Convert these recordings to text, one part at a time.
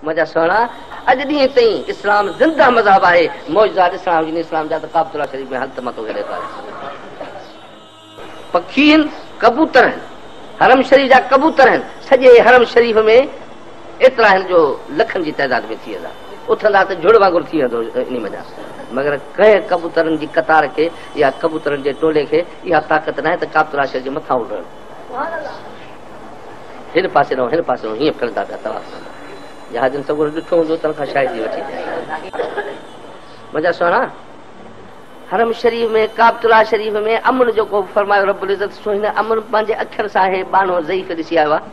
منهنجا سهڻا، اڄ ڏينهن تائين اسلام زنده مذهب آهي، معجزا ڏسڻا هجن اسلام جا ته ڪعبة الله شريف ۾ هل ته مان توکي ڏيکاريان. پکي هن، ڪبوتر هن، حرم شريف جا ڪبوتر هن، سڄي حرم شريف ۾ ايترا هن جو لکن جي تعداد ۾ ٿي ويندا، اٿندا ته جهڙ وانگر ٿي ويندو انهي منجهان، مگر ڪنهن ڪبوترن جي قطار کي يا ڪبوترن جي ٽولي کي اها طاقت ناهي ته ڪعبة الله شريف جي مٿان اڏڻ. هن پاسي ڏانهن هن پاسي ڏانهن هيئن ڦرندا پيا طواف ڪندا جهازن سڳورو ڏٺو هوندو تن کان شايد ئي وٺي منهنجا سهڻا حرم شريف ۾ ڪابت الله شريف ۾ امن جو ڪو فرمايو رب العزت سو هن امن پنهنجي اکر سان هي بانو ضعيف ڏسي آيو آهي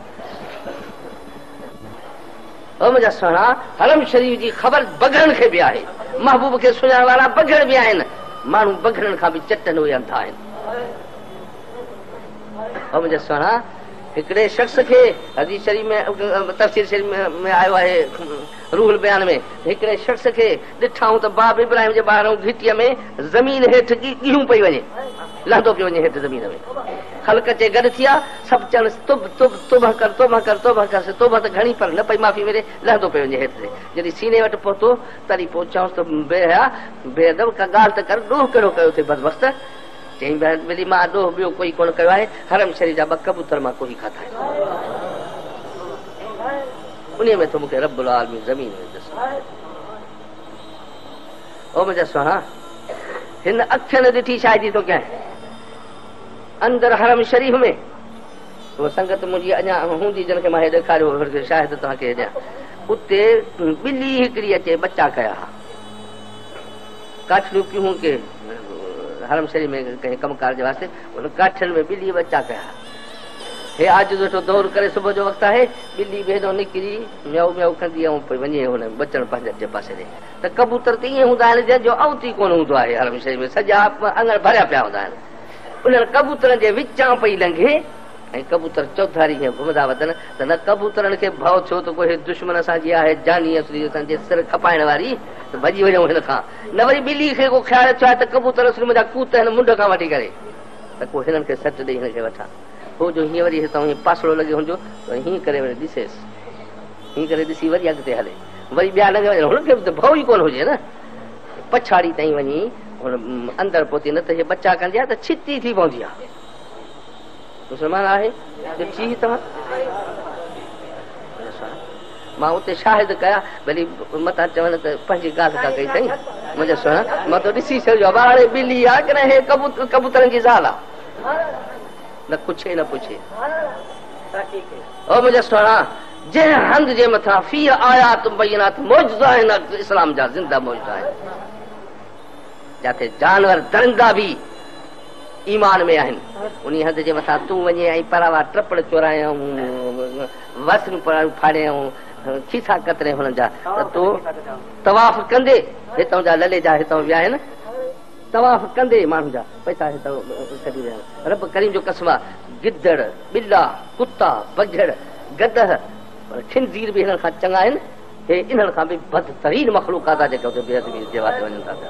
او منهنجا سهڻا حرم شريف جي خبر بگهڙن کي به آهي محبوب کي سڃاڻ وارا بگهڙ به آهن ماڻهو بگهڙن کان به چٽن اهي انڌا آهن او منهنجا سهڻا! هڪڙي شخص کي حديث شريف ۾ تفسير شريف ۾ آيو آهي روح البيان ۾ ته هڪڙي شخص کي ڏٺائون ته باب ابراهيم جي ٻاهرئون گهٽيء ۾ زمين هيٺ ڳيهون پئي وڃي لهندو پيو وڃي هيٺ زمين ۾ خلق اچي گڏ ٿيا سڀ چئنس تب تب توبه ڪر توبه ڪر توبه ڪر سي توبه ته گهڻي پر نه پئي معافي ملي لهندو پئي وڃي هيٺ تي جڏهن سيني وٽ پهتو تڏهن پوء چئونس ته بي حيا بي ادب ڪا ڳالهه ته ڪر ڏوهه ڪهڙو ڪيو اٿئي بدبخت چيائين، بهر ٻلي مان اڏوهه ٻيو ڪوئي ڪونه ڪيو آهي، حرم شريف جا ٻه ڪبوتر مان ڪوهي کاڌا آهن. انهيء ۾ ٿو مون کي رب العالمين زمين ۾ دسو. او منهنجا سهڻا! هن اکين ڏٺي شاهدي ٿو ڪيانء، اندر حرم شريف ۾ اها سنگت منهنجي اڃا هوندي جن کي مان هي ڏيکاريو هو، انهن کي شاهد توهان کي هي ڏيان، اتي ٻلي هڪڙي اچي ٻچا ڪيا ها. ڪاٺ جون پيهون ڪي حرم شريف ۾ ڪنهن ڪم ڪار جي واسطي انهن ڪاٺين ۾ ٻلي ٻچا ڪيا. هي عاجز ويٺو دؤر ڪري صبح جو وقت آهي، ٻلي به هيڏانهن نڪري ميائو ميائو ڪندي ائون پئي وڃي ۽ هن ٻچڙ پنهنجن جي پاسي ڏي ته ڪبوتر ته ائين هوندا آهن جن جو اوت ئي ڪونه هوندو آهي حرم شريف ۾ سڄا اڱڻ ڀريا پيا هوندا آهن انهن ڪبوترن جي وچان پئي لنگهي ۽ ڪبوتر چوڌاري جيئن گهمندا وتن ته نه ڪبوترن کي ڀؤ ٿيو ته ڪو هي دشمن اسان جي آهي جاني اسري اسان جي سر کپائڻ واري ته ڀڄي وڃون هن کان نه وري ٻلي کي ڪو خيال ٿيو آهي ته ڪبوتر اسري منهنجا ڪوت هن منڍ کان وٺي ڪري ته ڪو هنن کي سٽ ڏئي هن کي وٺان هو جو هيئن وري هتان هيئن پاسڙو لڳي هنجو ته هيئن ڪري وري ڏسيس هيئن ڪري ڏسي وري اڳتي هلي وري ٻيا لنگهي وڃن هن کي به ته ڀؤ ئي ڪونه هجي نه پڇاڙي تائين وڃي هن اندر پهتي نه ته هي ٻچا ڪندي آهي ته ڇتي ٿي پوندي آهي مسلمان آهي ته چيهه توهان مان اتي شاهد ڪيا ڀلي متان چون ته پنهنجي ڳالهه ڪا ڪئي اٿئي منهنجا سهڻا مان تو ڏسي ڇڏيو آهي واڙي ٻلي آهي ڪنهن هي ڪبوترن جي زال آهي نه ڪڇي نه پڇي او منهنجا سهڻا جنهن هنڌ جي مٿان في آيات بينات معجزا آهن اسلام جا زنده معجزا آهن جاٿي جانور درندا به ايمان ۾ آهن انهي هنڌ جي مٿان تون وڃين ۽ پراوا ٽپڙ چورائين ۽ وسريون پراڙيون ڦاڙين ۽ کيسا ڪترين هنن جا ته تو طواف ڪندي هتان جا للي جا هتان ويا آهن طواف ڪندي ماڻهن جا پئسا هتان ڪڍي ويا آهن رب ڪريم جو قسم آهي گدڙ ٻلا ڪتا بگهڙ گدهه خنزير به هنن کان چڱا آهن هي انهن کان به بدترين مخلوقات آهي جيڪا اتي بي ادبي جي واسطي وڃن ٿا پيا